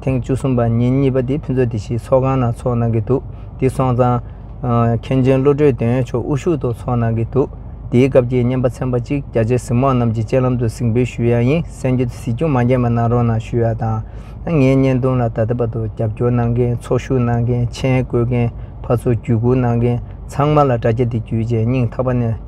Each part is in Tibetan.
ཐེངས་བཅུ་གསུམ་པ་ཉིན་གཉིས་པ་དེ་ཕུན་ཚོགས་སྡེ་བཞིའི་ཚོགས་ཁང་ནང་འཚོགས་གནང་གི་འདུག་དེ་སོང་ཙང། མཁན་ཆེན་བློ་གྲོས་དོན་ཡོད་མཆོག་དབུ་བཞུགས་ཐོག་འཚོགས་གནང་གི་འདུག་དེའི་སྐབས་ཀྱི་བརྙན་པ་ཚན་པ་གཅིག་རྒྱ་ཆེ་གཟིགས་མོ་རྣམས་ཀྱི་སྤྱན་ལམ་དུ་གཟིགས་འབུལ་ཞུ་ཡ་ཡིན་གསན་རྒྱུ་དེ་གཟིགས་རྒྱུ་མ་མཁྱེན་པ་གནང་རོགས་གནང་ཞུ་ཡ་དང། ངའི་བརྙན་ཐུང་ལ་ད་ལྟ་བར་དུ་རྒྱབ་སྐྱོར་གནང་མཁན་ཚོགས་ཞུགས་གནང་མཁན་མཆན་བཀོད་མཁན་ཕར་ཚུར་བརྒྱུད་སྐུར་གནང་མཁན་ཚང་མ་ལ་དྲ་རྒྱ་འདི་བརྒྱུད་རྗེས་སྙིང་ཐག་པ་ནས།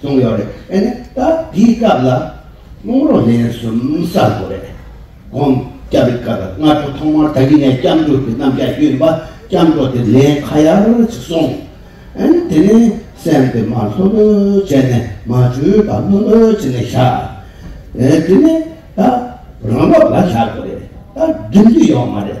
གསུངས་ཡོད་རེད་ཨེ་ནས་ད་དེའི་སྐབས་ལ་རླུང་རོ་ལན་གསུམ་གསར་དགོས་རེད་དགོངས་སྐྱབས་རེ་དཀའ་རེད་སྔ་དྲོ་ཐོག་མར་ད་གིན་ནས་སྐྱབས་འགྲོ་དེ་རྣམ་རྒྱལ་གཡོན་པ་སྐྱབས་འགྲོ་དེ་ལན་ཁ་ཡར་ཅིག་སོང་ཨེ་ནས་དེ་ནས་སེམས་དེ་མ་ལྷོད་ལྷོད་བྱས་ནས་མ་བྱོས་པ་ལྷོད་ལྷོད་བྱས་ནས་བཞག་ཨེ་དེ་ནས་ད་རང་བབ་ལ་བཞག་དགོས་རེད་ད་འགྲིམ་རྒྱུ་ཡོད་མ་རེད།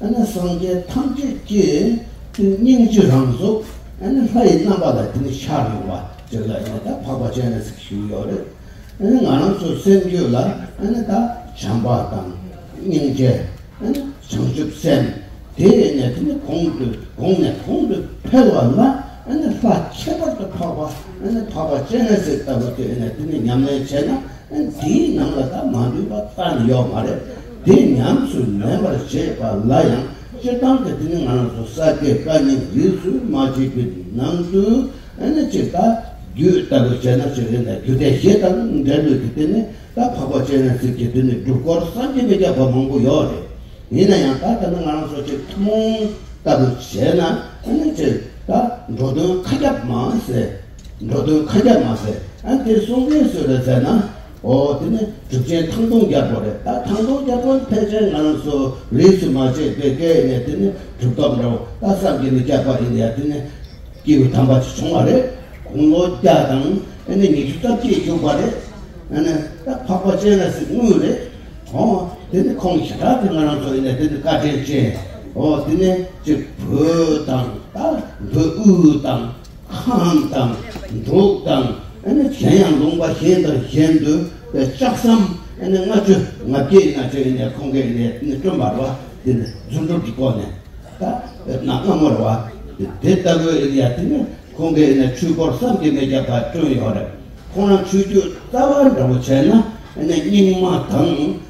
ཨ་ནི་སངས་རྒྱས་ཐམས་ཅད་ཀྱི་ཏིང་སྙིང་རྗེ་རང་གཟུགས་ཨ་ནི་ལྷ་ཡི་རྣམ་པ་ལ་ཏིང་ངེ་འཆར་ཡོང་བ་ཅིག་ལ་ཡང་དག་འཕགས་པ་ཅན་ལ་ཚིག་ཞུགས་ཡོད་རེད་ཨ་ནི་ང་རང་ཚོའི་སེམས་རྒྱུད་ལ་ཨ་ནི་དག་བྱམས་པ་དང་སྙིང་རྗེ་ཨ་ནི་བྱང་ཆུབ་སེམས་དེ་ཡོད་ནས་དེ་ནི་གོང་དུ་གོང་ནས་གོང་དུ་འཕེལ་བ་ལ་ཨ་ནི་ལྷ་ཁྱད་པར་དུ་འཕགས་པ་ཨ་ནི་འཕགས་པ་ཅན་ལ་ཚིག་ལྟ་བུ་དེ་ཡོད་ནས་དེ་ནི་ཉམས་ལེན་བྱས་ན་འདིའི་ནང་ལ་ད་མ་འདུས་པ་ལྟ་ནི་ཡོག་མ་རེད་དེ་ཉམས་སུ་ལེན་པར་བྱེད་པ་ལ་ཡང་སྤྱིར་བཏང་གི་དེ་ནི་ང་རང་ཚོ་ས་དགེ་བཀའ་རྙིང་རིས་སུ་མ་བྱས་པའི་ནང་དུ་ནི་ཅིག་ད་རྒྱུད་ལྟ་བུ་བྱས་ན་ཅིག་རེད་ད་རྒྱུད་སྡེ་བཞི་དང་འབྲེལ་མོད་ཀྱི་དེ་ནི་ད་འཕགས་པ་སྤྱན་རས་གཟིགས་ཀྱི་དེ་ནི་སྒྲུབ་སྐོར་བསམ་གྱི་མི་རྒྱག་པ་མང་པོ་ཡོག་རེད་ཡིན་ན་ཡང་ད་ལྟ་ནི་ང་རང་ཚོ་ཅིག་ཐུན་མོང་ལྟ་བུ་བྱས་ན་ནི་ཅིག་ད་འགྲོ་དོན་མཁའ་ཁྱབ་མ་ཟད་འགྲོ་དོན་ཁ་རྒྱག་མ་ཟེར་ཨ་དེ་གསུང་མཁན་སུ་རེད་ཟེར་ན། ཨོ་དེ་ནི་གྲུབ་ཆེན་ཐང་སྟོང་རྒྱལ་པོ་རེད་ད་ཐང་སྟོང་རྒྱལ་པོ་ཕལ་ཆེར་ང་རང་ཚོ་རིས་སུ་མ་ཆད་པའི་སྐད་ཡིག་ནས་དེ་ནི་གྲུབ་ཐོབ་འདྲ་བོ་ད་བསམ་གྱི་ནི་སྐྱག་པ་ཡིན་ཡ་དེ་ནི་སྐྱེས་བུ་དམ་པ་ཅིག་བྱུང་བ་རེད་དགུང་ལོ་བརྒྱ་དང་ཨེ་ནི་ཉི་ཤུ་རྩ་བརྒྱད་བཞུགས་པ་རེད་ཨེ་ནི་ད་འཕགས་པ་སྤྱན་རས་གཟིགས་དངོས་རེད་ཨོ་དེ་ནི་ཁོང་ཞི་དྲག་གིས་ང་རང་ཚོ་ཡིན་ནས་དེ་ནི་བཀའ་དྲིན་ཅན་ཨོ་དེ་ནི་གཅིག་བོད་དང་ད་བོད་དབུས་དང། ཁམས་དང་འབྲུག་དང་གཞན་ཡང་ལུང་པ་གཞན་དང་གཞན་དུ་ལྕགས་སམ་ལྔ་བཅུ་ང་བརྒྱད་ཡིན་ན་ཅིག་ནས་ཁོང་གིས་ནས་སྐྲུན་པར་བ་དེ་ནས་རྫུ་འཕྲུལ་གྱི་སྒོ་ནས་ད་ནག་སྔ་མོར་བ་དེ་ལྟ་བུའི་ཡ་དེ་ནས་ཁོང་གིས་ནས་ཆོས་འཁོར་བསམ་གྱིས་མི་ཁྱབ་པ་བསྐྲུན་ཡོད་རེད་ཁོང་རང་ཆོས་བརྒྱུད་རྩ་བ་འདྲ་བོ་བྱས་ན་ནས་རྙིང་མ་དང།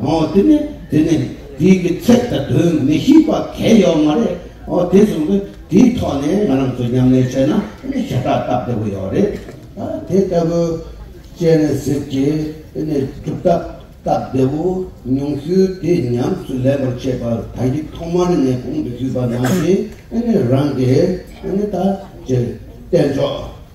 ཨོ་དེ་ནས་དེ་ནས་དེའི་གི་ཚད་ལྟ་དོན་མི་ཤེས་པ་གལ་ཡོད་མ་རེད་ཨོ་དེ་བཟུང་གི་དེའི་ཐོག་ནས་ང་རང་ཚོ་ཉམས་ལེན་བྱས་ན་ནི་ཞེ་དྲག་སྟབས་བདེ་བོ་ཡོད་རེད་ཨ་དེ་ལྟ་བུ་བྱས་ནས་ཟེར་གི་དེ་ནས་སྒྲུབ་ཐབས་སྟབས་བདེ་བོ་ཉུང་ཤོས་དེ་ཉམས་སུ་ལེན་པར་བྱས་པ་ད་ཡིག་ཐོག་མར་ནས་གོང་དུ་ཞུས་པ་ནང་བཞིན་ནི་རང་གི་ནི་ད་བྱས་བསྟན་ཆོག།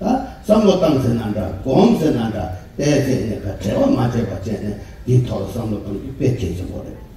ད་བསམ་བློ་བཏང་ཟེར་ན་འདྲ་སྒོམ་ཟེར་ན་འདྲ་བལྟས་ཚེ་གནད་ཁ་བྲལ་བ་མ་བྱས་པ་བཅས་ནས་འདིའི་ཐོག་ལ་བསམ་བློ་གཏོང་རྒྱུ་དཔེ་གལ་ཆེན་པོ་རེད།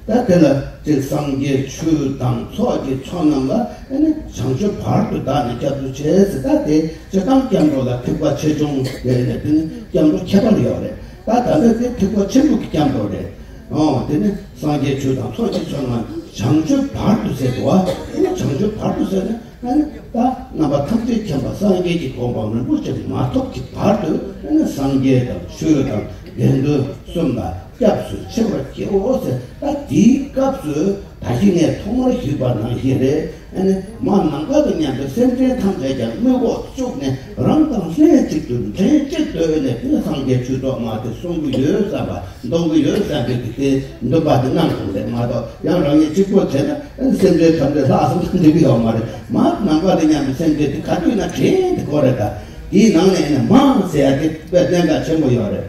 ད་དེ་ལ་གཅིག་སངས་རྒྱས་ཆོས་དང་ཚོགས་ཀྱི་ཚོགས་རྣམས་ལ་ཨེ་ནས་བྱང་ཆུབ་བར་དུ་བདག་ནི་སྐྱབས་འགྲོ་བྱས་ཟེར་ད་དེ་ཇི་ལྟར་སྐྱབས་འགྲོ་ལ་ཐིག་པ་ཆེ་ཆུང་དེ་ནས་དེ་ནི་སྐྱབས་འགྲོ་ཁྱད་པར་ཡོད་རེད་ད་ད་ལྟ་དེ་ཐིག་པ་ཆེན་པོ་གི་སྐྱབས་འགྲོ་རེད། འོང་དེ་ནི་སངས་རྒྱས་ཆོས་དང་ཚོགས་ཀྱི་ཚོགས་རྣམས་བྱང་ཆུབ་བར་དུ་ཟེར་དུ་བ་ཨེ་ནས་བྱང་ཆུབ་བར་དུ་ཟེར་ན། ཨ་ནི་བདག་རྣམ་པ་ཐམས་ཅད་མཁྱེན་པ་སངས་རྒྱས་ཀྱི་དགོངས་པ་མི་མཐོ་ཅིང་མ་ཐོབ་ཀྱི་བར་དུ་ཨ་ནི་སངས་རྒྱས་དང་ཆོས་དང་དགེ་འདུན་གསུམ་ལ་སྐྱབས་སུ་མཆི་བར་བགྱིའོ་ཟེར་ད་དེའི་སྐབས་སུ་ད་ཞི་གནས་ཐོག་མར་ཞུས་པ་ནང་བཞིན་རེད་ཨ་ནི་མ་ནམ་མཁའ་དང་མཉམ་པའི་སེམས་ཅན་ཐམས་ཅད་ཀྱང་རྨུས་འགོག་བཅུག་ནས་རང་དང་ལྷན་ཅིག་ཏུ་འདྲེན་བྱེད་བརྟོལ་ནས་ཀུན་སངས་རྒྱས་ཆོས་ཐོག་མ་དེ་གསུང་གི་ཡོད་བསམ་པ་མདོང་གི་ཡོད་བསམ་པའི་དེ་འདོད་པ་དེ་རྣམས་གསུངས་པས་མ་གཏོགས་ཡང་རང་ཉིད་གཅིག་པོ་བྱས་ན་སེམས་ཅན་ཐམས་ཅད་ལྷག་བསམ་དང་འདྲེས་གི་ཡོད་མ་རེད་མ་ནང་པ་དེ་སྙམ་པའི་སེམས་ཅན་དེ་ག་དུས་ན་དྲན་དེ་གོ་རེ་ད་དེའི་ནང་ནས་ནི་མང་ཟེར་ཡ་དེ་བས་གཏན་འགལ་ཆེན་པོ་ཡོད་རེད།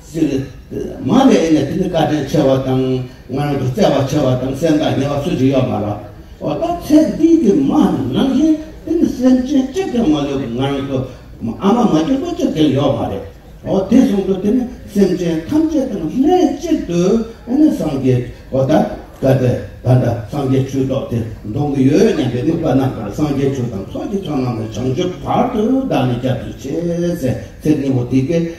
སྲིད། མ་ལས་ཨེ་ནས་དེ་ནི་བཀའ་དྲིན་ཆེ་བ་དང་ང་རང་དུ་བརྩེ་བ་ཆེ་བ་དང་སེམས་ཐག་ཉེ་བ་སུ་ཞིག་ཡོད་མ་རོགས། འོ་ད་ཚེ་འདི་གི་མ་ནང་བཞིན་དེ་ནི་སེམས་ཅན་གཅིག་ཀྱང་མ་ལུས་པར་ང་རང་དུ་ཨ་མ་མ་སྐྱེས་དགུ་གཅིག་ཀྱང་ཡོད་མ་རེད། འོ་དེ་བཟུང་དུ་དེ་ནི་སེམས་ཅན་ཐམས་ཅད་དང་ལྷན་གཅིག་ཏུ་ཨེ་ནས་སངས་རྒྱས་འོ་ད་གལ་ཏེ་ད་ལྟ་སངས་རྒྱས་ཆོས་ཐོག་དེ་འདོང་གི་ཡོད་སྙམ་པའི་དམིགས་པ་རྣམས་ཀྱང་སངས་རྒྱས་ཆོས་དང་ཚོགས་ཀྱི་ཚོགས་རྣམས་ལ་བྱང་ཆུབ་བར་དུ་བདག་ནི་སྐྱབས་སུ་མཆི་ཟེར་ཚེ་སྙིང་པོ་དེ་སྐད།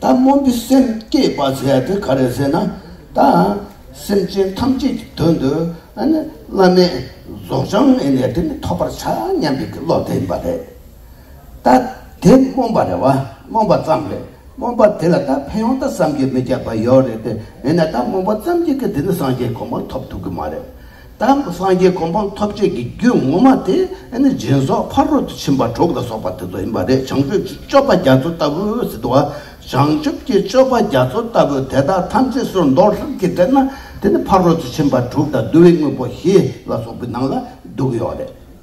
ད་སྨོན་པའི་སེམས་བསྐྱེད་པར་བྱ་དེ་ག་རེ་ཟེར་ན་ད་སེམས་ཅན་ཐམས་ཅད་ཀྱི་དོན་དུ་བླ་མའི་རྫོགས་བྱང་ངེས་ནས་དེ་ནི་ཐོབ་པར་བྱ་སྙམ་པའི་བློ་དེ་ཡིན་པ་རེད། ད་དེ་སྨོན་པ་རེད་བ་སྨོན་པ་ཙམ་རེད་སྨོན་པ་དེ་ལ་ད་ཕན་ཡོང་ད་བསམ་གྱི་མི་ཁྱབ་པ་ཡོད་རེད་དེ་མིན་ན་ད་སྨོན་པ་ཙམ་གྱིས་ཀྱི་དེ་ནི་སངས་རྒྱས་གོང་མར་ཐོབ་ཐུབ་ཀྱི་མ་རེད། དང་པོ་སངས་རྒྱས་གོ་འཕང་ཐོབ་བྱེད་ཀྱི་རྒྱུད་ངོ་མ་དེ་ནི་སྦྱིན་སོགས་ཕ་རོལ་ཏུ་ཕྱིན་པ་དྲུག་ལ་སོགས་པ་དེ་ཚོ་ཡིན་པ་རེད་བྱང་ཆུབ་ཀྱི་སྤྱོད་པ་རྒྱ་མཚོ་ལྟ་བུ་ཟེར་དུ་བ་བྱང་ཆུབ་ཀྱི་སྤྱོད་པ་རྒྱ་མཚོ་ལྟ་བུ་དེ་དག་ཐམས་ཅད་སོར་འདོགས་ལྷུར་གྱིས་སྤྲད་ན་དེ་ནི་ཕ་རོལ་ཏུ་ཕྱིན་པ་དྲུག་དང་བསྡུ་བའི་དངོས་པོ་བཞི་ལ་སོགས་པའི་ནང་ལ་འདུས་ཡོད་རེད།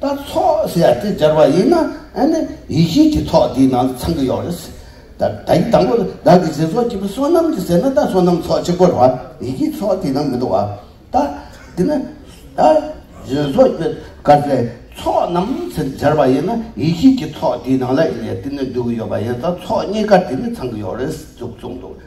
ད་ཚོགས་ཟེར་ཡ་དེ་སྦྱར་བ་ཡིན་ན་ཨ་ནི་ཡིད་བཞིན་གྱི་ཚོགས་དེའི་ནང་དུ་ཚང་གི་ཡོག་རེད། ད་ད་ཡིག་དང་པོ་ལ་བདག་གི་ཟེར་སོགས་ཀྱི་པོ་བསོད་ནམས་ཀྱི་ཟེར་ན་ད་བསོད་ནམས་ཚོགས་གཅིག་པོ་རེད་བ་ཡིད་བཞིན་ཚོགས་དེའི་ནང་མི་འདུག་བ་ད་དེ་ནི་ད་ཟེར་སོགས་ཀྱི་དཀར་ཟས་ཚོགས་རྣམས་ཟེར་སྦྱར་བ་ཡིན་ན་ཡིད་བཞིན་གྱི་ཚོགས་དེའི་ནང་ལ་ཨེ་ནས་དེ་ནི་འདུག་གི་ཡོད་པ་ཡིན་ད་ཚོགས་གཉིས་ཀ་དེ་ནི་ཚང་གི་ཡོག་རེད་ཟེར་ཙུག་ཙུག་འདུག་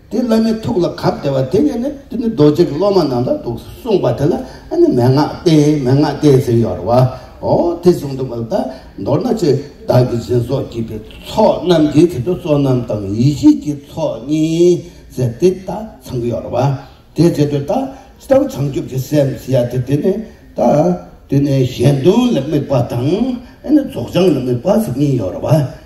དེས་བླ་མའི་ཐུགས་ལ་གབ་སྟེར་བ་དེ་ཉིད་ནི་དེ་ནི་རྡོ་རྗེ་གི་སློབ་མ་རྣམས་ལ་འདུག་གསུངས་པ་དེ་ལ་ཨ་ནི་མན་ངག་སྟེ་མན་ངག་སྟེ་ཟེར་ཡོད་རེད་བ། འོ་དེ་བཟུང་འདུག་པ་ལ་དག་མདོར་ན་ཆོས་བདག་གི་སྦྱིན་སོགས་བགྱིས་པའི་ཚོགས་རྣམས་ཀྱི་ཚེ་དུ་བསོད་ནམས་དང་ཡེ་ཤེས་ཀྱི་ཚོགས་གཉིས་ཟེར་ཏེ་དག་ཚང་གི་ཡོད་རེད་བ། དེའི་ཚེ་དུ་དག་ཅི་ལྟར་བྱང་ཆུབ་ཀྱི་སེམས་ཞེས་བྱ་སྟེ་དེ་ནི་དག་དེ་ནི་གཞན་དོན་ལ་དམིགས་པ་དང་ཨ་ནི་རྫོགས་བྱང་ལ་དམིགས་པ་ཟེར་གཉིས་ཡོད་རེད་བ།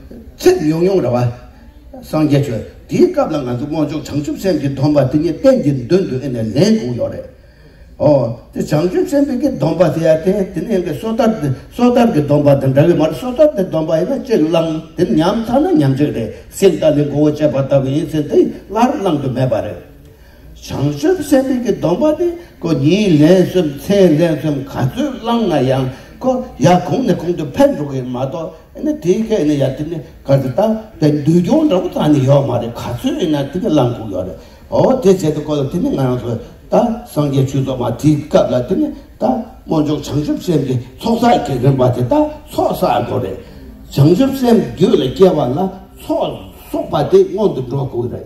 ཚེ་ཡུང་ཡུང་ར་བ། སངས་རྒྱས་ཆོས་འདིའི་སྐབས་ལ་ང་ཚོ་དབང་ཕྱུག་བྱང་ཆུབ་སེམས་ཀྱི་སྡོམ་པ་དེ་ཉིད་གཏན་གྱི་མདུན་དུ་ཨེ་ནས་ལེན་དགོས་ཡོད་རེད། ཨོ། དེ་བྱང་ཆུབ་སེམས་དཔའི་གི་སྡོམ་པ་དེ་ཡ་དེ་དེ་ནི་ཡང་གི་སོ་ཐར་དེ་སོ་ཐར་གི་སྡོམ་པ་དང་འདྲ་གི་མ་རེད་སོ་ཐར་དེ་སྡོམ་པ་ཡིན་ན་གཅིག་བླང་དེ་ཉམས་ཐག་ན་ཉམས་གཅིག་རེད་སེམས་དང་ནི་མགོ་བོ་བཅད་པ་ལྟ་བུ་ཡིན་ཟེར་དེ་སླར་བླང་དུ་མེད་པ་རེད། བྱང་ཆུབ་སེམས་དཔའི་གྱི་སྡོམ་པ་ནི་ཀོ་ཉིད་ལན་གསུམ་ཚེ་ལན་གསུམ་ག་ཚོད་བླང་ན་ཡང་ཀོ་ཡ་གོང་ནས་གོང་དུ་འཕེལ་འགྲོ་གི་མ་གཏོགས་ཨེ་ན་དེའི་ཁའི་ནི་ཡ་དེ་ནི་ག་ཚོད་ད་དེ་འདུལ་སྐྱོང་འདྲ་པོ་ད་ནི་ཡོད་མ་རེད་ག་ཚོད་ཨེ་ན་དེ་ནི་བླང་དགོས་ཡོད་རེད་ཨོ་དེ་བྱས་ཏེ་ཀོ་ལ་དེ་ནི་ང་རང་ཚོ་ད་སངས་རྒྱས་ཆོས་ཚོགས་མ་དེའི་སྐབས་ལ་དེ་ནི་ད་སྨོན་འཇུག་བྱང་ཆུབ་སེམས་ཀྱི་ཚོགས་བསགས་ཀྱི་རིམ་པ་དེ་ད་ཚོགས་བསགས་དགོས་རེད་བྱང་ཆུབ་སེམས་རྒྱུད་ལ་སྐྱེ་བ་ལ་ཚོགས་བསོགས་པ་དེ་སྔོན་དུ་འགྲོ་དགོས་རེད་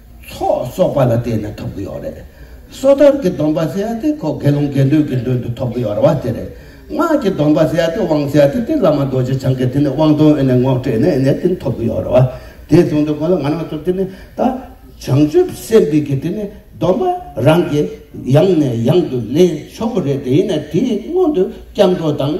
ཚོགས་གསོག་པ་ལ་བརྟེན་ནས་ཐོབ་ཀྱི་ཡོད་རེད། སོ་ཐར་གྱི་སྡོམ་པ་ཟེར་ཡ་དེ་ཁོ་དགེ་སློང་དགེ་འདུན་གྱི་མདུན་དུ་ཐོབ་ཀྱི་ཡོད་རེད་བ་དེ་རེད། སྔགས་ཀྱི་སྡོམ་པ་ཟེར་ཡ་དེ་དབང་ཟེར་ཡ་དེ་དེ་བླ་མ་རྡོ་རྗེ་འཆང་གིས་དེ་ནས་དབང་དོན་ཨེ་ནས་ངོ་སྤྲད་ནས་ཨེ་ནས་དེ་ཐོབ་ཀྱི་ཡོད་རེད་བ། དེ་བཟུང་དེ་ཁོ་ལ་ང་རང་ཚོར་དེ་ནི་ད་བྱང་ཆུབ་སེམས་དཔའི་གྱི་དེ་ནི་སྡོམ་པ་རང་གིས་ཡང་ནས་ཡང་དུ་ལེན་ཆོག་གི་རེད་དེ་ཡིན་ན་དེའི་སྔོན་དུ་སྐྱབས་འགྲོ་དང།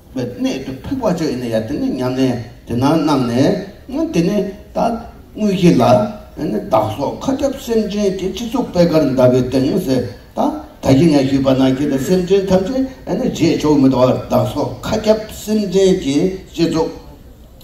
བའི་གནད་དུ་ཕུགས་པ་ཅོ་ཡིན་ན་ཡ་དེ་ནི་ཉམས་ལེན་དེ་ན་བསྣམས་ནས་ཡང་དེ་ནི་ད་དངོས་གཞི་ལ་ཡང་ནི་བདག་སོགས་མཁའ་ཁྱབ་སེམས་ཅན་གྱི་སྤྱི་གཙུག་པད་དཀར་འདབ་པའི་སྟེང་ངོས་ཟེར་ད་ད་ཀྱི་ནས་ཞུས་པ་ན་ཁྱེད་ལ་སེམས་ཅན་ཐམས་ཅད་ཡང་ནི་རྗེས་ཆོག་མི་འདུག་བདག་སོགས་མཁའ་ཁྱབ་སེམས་ཅན་གྱི་སྤྱི་གཙུག།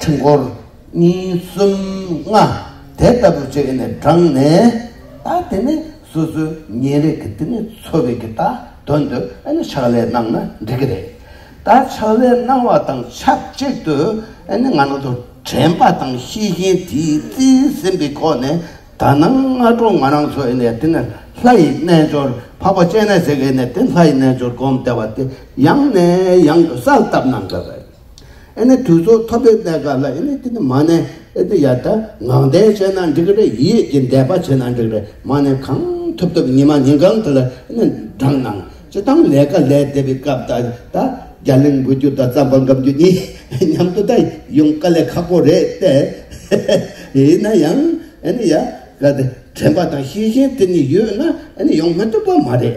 ཕྲེང་སྐོར་གཉིས་གསུམ་ལྔ་དེ་ལྟ་བུ་བྱས་ནས་བགྲངས་ནས་ད་དེ་ནས་སོ་སོའི་ཉེ་རེག་གི་དེ་ནས་འཚོ་བའི་གི་ད་དོན་དུ་ཨེ་ནི་ཕྱག་ལས་གནང་ན་འགྲིག་གི་རེད། ད་ཕྱག་ལས་གནང་བ་དང་ཆབས་གཅིག་ཏུ་ཨེ་ནི་ང་རང་ཚོ་དྲན་པ་དང་ཤེས་བཞིན་དེའི་རྩིས་ཟིན་པའི་ཁོག་ནས་ད་ནངས་སྔ་དྲོ་ང་རང་ཚོ་ཨེ་ནི་དེ་ནས་ལྷ་ཡི་རྣལ་འབྱོར་འཕགས་པ་སྤྱན་རས་གཟིགས་ཨེ་ནི་དེ་ལྷ་ཡི་རྣལ་འབྱོར་བསྒོམ་བསྡད་པ་དེ་ཡང་ནས་ཡང་དུ་གསལ་བཏབ་གནང་དགོས་པ་རེད། ཨེ་ནི་དུས་ཚོད་ཐོབ་པའི་གནད་འགག་ལ་ཨེ་ནི་དེ་ནི་མ་ནས་ཨེ་དེ་ཡར་ད་ངང་བསྟན་བྱས་ན་འགྲིག་རེད་ཡིད་ཡེད་ཀྱི་འདས་པ་བྱས་ན་འགྲིག་རེད་མ་ནས་གང་ཐུབ་ཐུབ་ཉི་མ་ཉིན་གང་དེ་ལ་ཨེ་ནི་འགྲངས་གནང་སྤྱི་བཏང་ལས་ཀ་ལས་བསྡད་པའི་སྐབས་ད་ད་རྒྱ་གླིང་འགུལ་རྒྱུ་དང་རྩམ་པ་འགམ་རྒྱུ་གཉིས་མཉམ་དུ་ད་ཡོང་དཀའ་ལས་ཁག་པོ་རེད་ཏེ་ཡིན་ན་ཡང་ཨེ་ནི་ཡར་ད་དྲན་པ་དང་ཤེས་བཞིན་དེ་གཉིས་ཡོད་ན་ཨེ་ནི་ཡོང་མི་ཐུབ་པ་མ་རེད།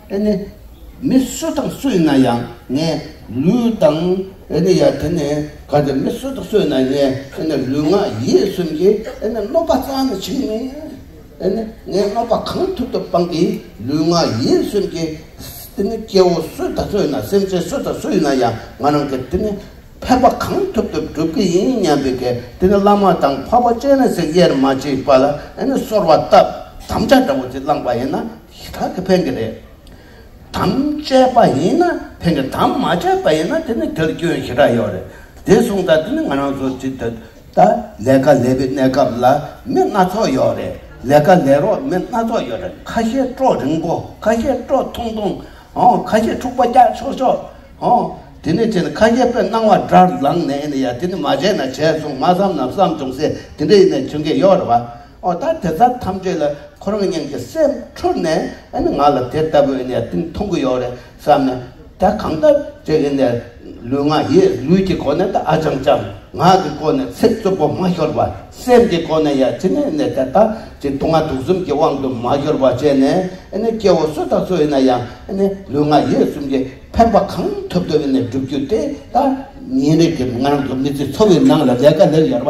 དེ་ནི་མི་སུ་དང་སུ་ཡིན་ན་ཡང་ངས་ལུས་དང། དེ་ནི་ཡང་དེ་ནི་གང་དེ་མི་སུ་དང་སུ་ཡིན་ན་ངས་དེ་ནི་ལུས་ངག་ཡིད་གསུམ་གྱིས་དེ་ནི་གནོད་པ་གཙང་ནི་བྱེད་མི་དེ་ནི་ངས་གནོད་པ་གང་ཐུབ་ཐུབ་སྤངས་ཀྱིས་ལུས་ངག་ཡིད་གསུམ་གྱིས་དེ་ནི་སྐྱེ་བོ་སུ་དང་སུ་ཡིན་ན་སེམས་ཅན་སུ་དང་སུ་ཡིན་ན་ཡང་ང་རང་གིས་དེ་ནི་ཕན་པ་གང་ཐུབ་ཐུབ་བསྒྲུབ་ཀྱི་ཡིན་སྙམ་པའི་གེགས་དེ་ནི་བླ་མ་དང་འཕགས་པ་སྤྱན་རས་གཟིགས་དབྱེར་མ་མཆིས་པ་ལ་དེ་ནི་གསོར་བ་བཏབ་དམ་བཅའ་འདྲ་བོ་དེ་བླངས་པ་ཡིན་ན། ཞེ་སྡང་གིས་ཕན་གི་རེད་དམ། བཅད་པ་ཡིན་ན་ཕན་གི་དམ་མ་བཅད་པ་ཡིན་ན་དེ་ནི་དེར་སྐྱོན་ཞེ་དྲག་ཡོད་རེད་དེ་གསུངས་ད་དེ་ནི་ང་རང་ཚོ་དེ་ད་ལྟ་ལས་ཀ་ལས་པའི་གནས་སྐབས་ལ་མི་སྣ་ཚོགས་ཡོད་རེད་ལས་ཀ་ལས་རོགས་མི་སྣ་ཚོགས་ཡོད་རེད་ཁ་ཤས་སྤྲོ་རིང་པོ་ཁ་ཤས་སྤྲོ་ཐུང་ཐུང་ཧོ་ཁ་ཤས་འཁྲུག་པ་རྒྱག་ཆོག་ཆོག་ཧོ་དེ་ནི་དེ་ནི་ཁ་ཤས་པོའི་སྣང་བ་དགྲར་ལངས་ནས་ཡིན་ཡ་དེ་ནི་མ་བྱས་ན་བྱས་སོང་མ་བསམ་ན་བསམ་བྱུང་ཟེར་དེ་འདྲ་ཡིན་ནས་བྱུང་གི་ཡོད་རེད་བ། འོ་ད་དེ་དག་ཐམས་ཅད་ལ་ཁོ་རང་གཉན་གྱི་སེམས་འཁྲུལ་ནས་ཨ་ནི་ང་ལ་དེ་ལྟ་བུའི་གནས་སྟངས་མཐོང་གི་ཡོད་རེད་བསམ་ནས་ད་གང་ལྟར་བྱས་གི་ནས་ལུས་ངག་ཡིད་ལུས་ཀྱི་སྒོ་ནས་ད་ཨ་ཅང་ཅང་ངག་གི་སྒོ་ནས་ཚིག་རྩུབ་པོ་མ་ཤོར་བ་སེམས་ཀྱི་སྒོ་ནས་ཡང་ཅི་ནས་ནས་དེ་དག་གི་སྡུག་བསྔལ་དུག་གསུམ་གྱི་དབང་དུ་མ་ཤོར་བ་བྱས་ནས་ཨ་ནི་སྐྱེ་བོ་སུ་དང་སུ་ཡིན་ན་ཡང་ཨ་ནི་ལུས་ངག་ཡིད་གསུམ་གྱི་ཕན་པ་གང་ཐུབ་ཐུབ་ནས་བསྒྲུབ་རྒྱུ་དེ་ལྟར། ཉིན་རེ་གི་ང་རང་གི་མི་ཚེའི་འཚོ་བའི་ནང་ལ་ལས་ཀ་ལས་ཡོད་པ་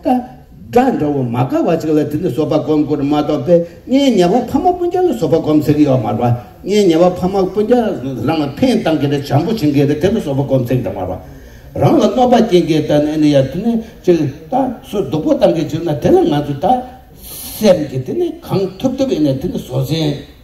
སྒྲ་འདྲ་བོ་མ་དགའ་བ་ཅིག་ལ་དེ་ནི་སོ་པ་སྒོམ་དགོས་རེད་མ་གཏོགས་པས་ངའི་ཉེ་བ་ཕ་མ་སྤུན་ཆེན་ལ་སོ་པ་སྒོམ་ཟེར་གྱི་ཡོད་མ་རེད། ངའི་ཉེ་བ་ཕ་མ་སྤུན་ཆེན་རང་ལ་ཕན་བཏང་གི་རེད་བྱམས་པོ་བྱེད་ཀྱི་རེད་དེ་ནི་སོ་པ་སྒོམ་ཟེར་གྱི་རེད་མ་རེད། རང་ལ་གནོད་པ་སྐྱེལ་གྱི་རེད་ན་ནི་ཡར་དེ་ནི་ཅིག་ད་སུ་སྡུག་པོ་བཏང་གི་ཅིག་ན་དེ་ལ་ང་ཚོས་ད་སེམས་ཀྱི་དེ་ནི་གང་ཐུབ་ཐུབ་ཨེ་ནས་དེ་ནི་བཟོ་ཟིན།